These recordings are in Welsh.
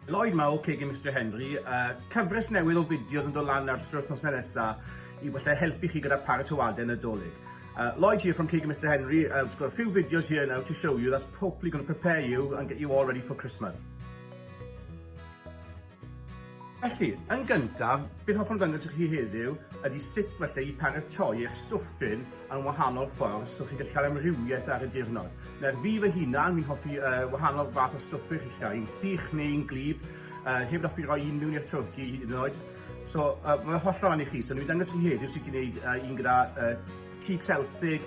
Lloyd Mawr, Cei Gem Mister Henry, a cyfres newydd o fideos yn dod lan ar dros nosau nesa i falle helpu chi gyda paratoadau Nadolig. Uh, Lloyd here from Cei Gem Mister Henry. Uh, just got a few videos here now to show you that's hopefully going to prepare you and get you all ready for Christmas. Felly, yn gyntaf, beth hoffwn ddangos i chi heddiw ydy sut falle i paratoi eich stwffyn yn wahanol ffordd so chi'n gallu cael amrywiaeth ar y diwrnod. Nawr, fi fy hunan, fi'n hoffi uh, wahanol fath o stwffyn chi'n cael, un sych neu un glib, uh, hefyd hoffi roi un mewn i'r twrci hyd yn oed. So, uh, mae'n hollol ran i chi, so ni'n dangos i chi heddiw sut i wneud uh, un gyda uh, cig selsig,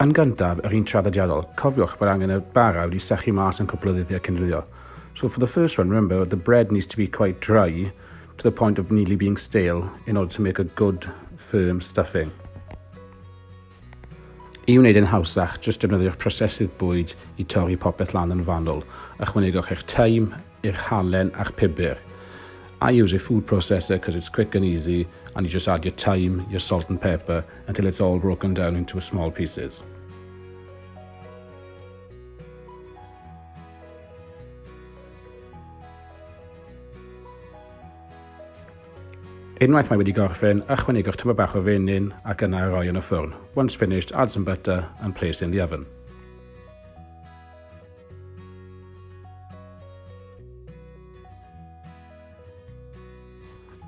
Yn gyntaf, yr un traddodiadol, cofiwch bod angen y bara wedi sychu mas yn cwpl o ddyddiau cyn rhywio. So for the first one, remember the bread needs to be quite dry to the point of nearly being stale in order to make a good firm stuffing. I wneud e'n hawsach, jyst defnyddiwch prosesydd bwyd i torri popeth lan yn fanwl. Ychwanegwch eich taim, eich halen a'ch pibr. I use a food processor cos it's quick and easy and you just add your taim, your salt and pepper until it's all broken down into small pieces. Unwaith mae wedi gorffen, ychwanegwch tymed bach o fenyn ac yna a roi yn y ffwrn. Once finished, add some butter and place in the oven.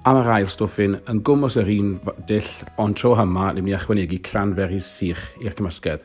Am yr ail stwffyn, yn gwmws yr un dull, ond tro yma, ni'n mynd i ychwanegu cranberries sych i'r cymysgedd.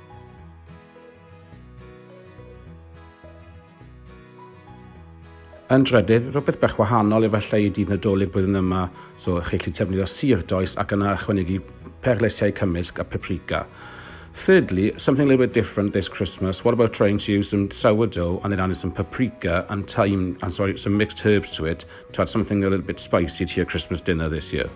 Yn drydydd, rhywbeth bach wahanol efallai i dydd Nadolig blwyddyn yma, so chi'n gallu defnyddio sir does ac yna ychwanegu perlysiau cymysg a paprika. Thirdly, something a little bit different this Christmas. What about trying to use some sourdough and then adding some paprika and thyme and sorry, some mixed herbs to it to add something a little bit spicy to your Christmas dinner this year?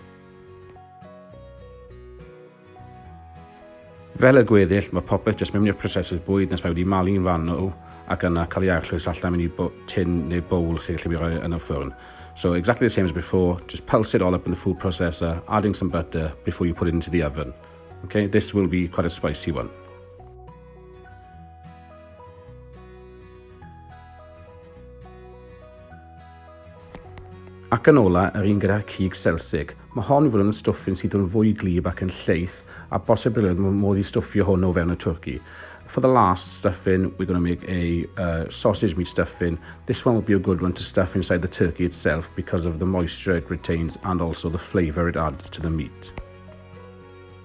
Fel y gweddill, mae popeth jyst mewn i'r prosesydd bwyd nes mae wedi malu'n fanwl ac yna cael ei arllwys allan mewn i tin neu bowl chi lle mae rhoi yn y ffwrn. So exactly the same as before, just pulse it all up in the food processor, adding some butter before you put it into the oven. Okay, this will be quite a spicy one. Ac yn ola, yr un gyda'r cig selsig. Mae hon i fod yn stwffyn sydd yn fwy gwlyb ac yn lleith, a bosibilrwydd mae modd i stwffio hwn o fewn y twrci. For the last stuffing, we're going to make a uh, sausage meat stuffing. This one will be a good one to stuff inside the turkey itself because of the moisture it retains and also the flavour it adds to the meat.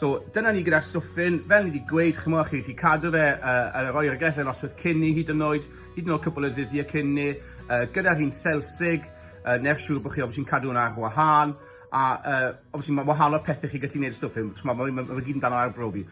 So, dyna ni gyda'r stwffyn. Fel ni wedi gweud, chi'n mwyn chi wedi cadw fe uh, ar yr oergell yn oswyd cyn ni hyd yn oed, hyd yn oed cwpl o ddyddiau cyn ni, uh, gyda'r un selsig, uh, neu'r siŵr bod chi obviously yn cadw hwnna ar wahân, a uh, obviously mae wahanol pethau chi gallu gwneud y stwffyn, mae fe gyd yn dan o arbrofi.